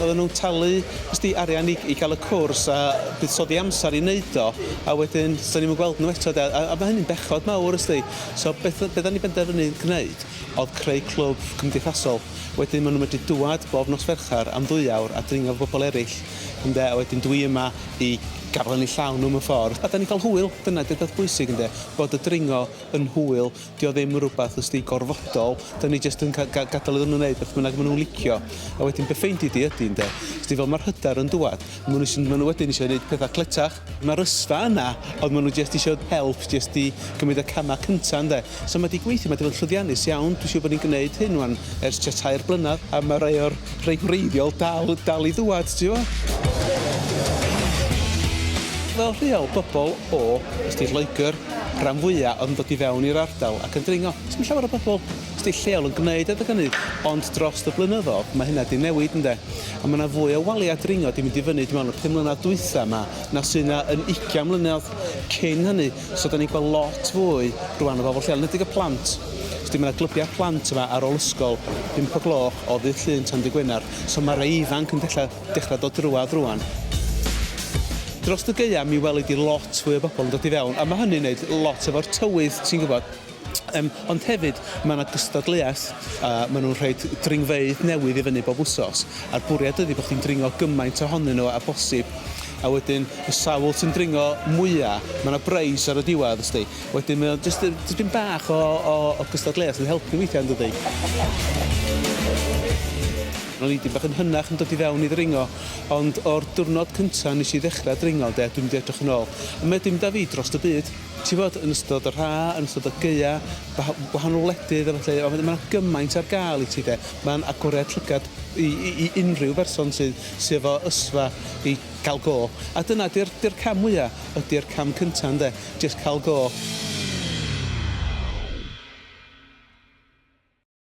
Oedden nhw'n talu ysti arian i i ga'l y cwrs a buddsoddi amser i neud o a wedyn do'n ni'm yn gweld nhw eto 'de a a ma' hynny'n bechod mawr ysti. So beth o- be' 'dan ni benderfynu gneud o'dd creu clwb cymdeithasol wedyn ma' nhw'n medru dŵad bob nos Fercher am ddwy awr a dringo 'fo bobol eryll ynde a wedyn dwi yma i gafel yn 'u llaw nhw mewn ffordd a 'dan ni'n ca'l hwyl dyna 'di'r peth bwysig ynde bod y dringo yn hwyl. Dio ddim yn rhywbeth os di gorfodol, da ni jyst yn gadael iddyn nhw wneud beth bynnag maen nhw'n licio. A wedyn beth ffeindi di ydy ynde? Os di fel mae'r hyder yn dwad, maen nhw, maen nhw wedyn eisiau gwneud pethau cletach. Mae'r ysfa yna, ond maen nhw jyst eisiau help, jyst di gymryd y camau cyntaf ynde. So mae di gweithio, mae di fod yn llwyddiannus iawn, dwi'n siŵr bod ni'n gwneud hyn wan ers tua tair blynedd, a mae rhai o'r rhai gwreiddiol dal, dal i ddwad, ti'n gwybod? Fel rheol, bobl o, os di Lloegr, rhan fwya oedd yn dod i fewn i'r ardal ac yn dringo. Sdim llawer o bobl sy 'di lleol yn gneud adeg ynny ond drost y blynyddodd ma' hynna 'di newid ynde? A ma' 'na fwy o walia dringo 'di mynd i fyny dwi me'wl y pum mlynadd dwytha 'ma na sy' 'na yn ugian mlynedd cyn hynny so 'dan ni'n gweld lot fwy rŵan o bobl lleol enedig y plant. Sdi ma' 'na glybia plant yma ar ôl ysgol pump o gloch o ddydd Llun tan dy' Gwenar so ma' rei ifanc yn dechra Dechrau dod drwad rwan. Drost y gaeaf mi weli di lot fwy o bobl yn dod i fewn a ma hynny'n neud lot efo'r tywydd ti'n gwybod. Yym ond hefyd ma na gystadleuaeth a ma nhw'n rhoid dringfeydd newydd i fyny bob wsos a'r bwriad ydi bo chdi'n dringo gymaint ohonyn nhw a bosib a wedyn y sawl sy'n dringo mwya ma na breis ar y diwadd ysti wedyn mae o jyst dipyn bach o o o gystadleuaeth sy'n helpu weithia yndydi? Ro'n i dipyn bach yn hynach yn dod i fewn i ddringo, ond o'r diwrnod cynta' nes i ddechra dringo 'de, dwi'm 'di edrych yn ôl. A mae 'di mynd â fi drost y byd. Ti 'bod, yn ystod yr ha', yn ystod y gaea', gwaha- gwahanol wledydd a ballu, a wedyn ma' 'na gymaint ar ga'l i ti 'de. Ma'n agoriad llygad i i i unrhyw berson sy sy efo ysfa i ca'l go. A dyna 'di'r 'di'r cam mwya', ydi'r cam cynta' ynde? Jyst ca'l go.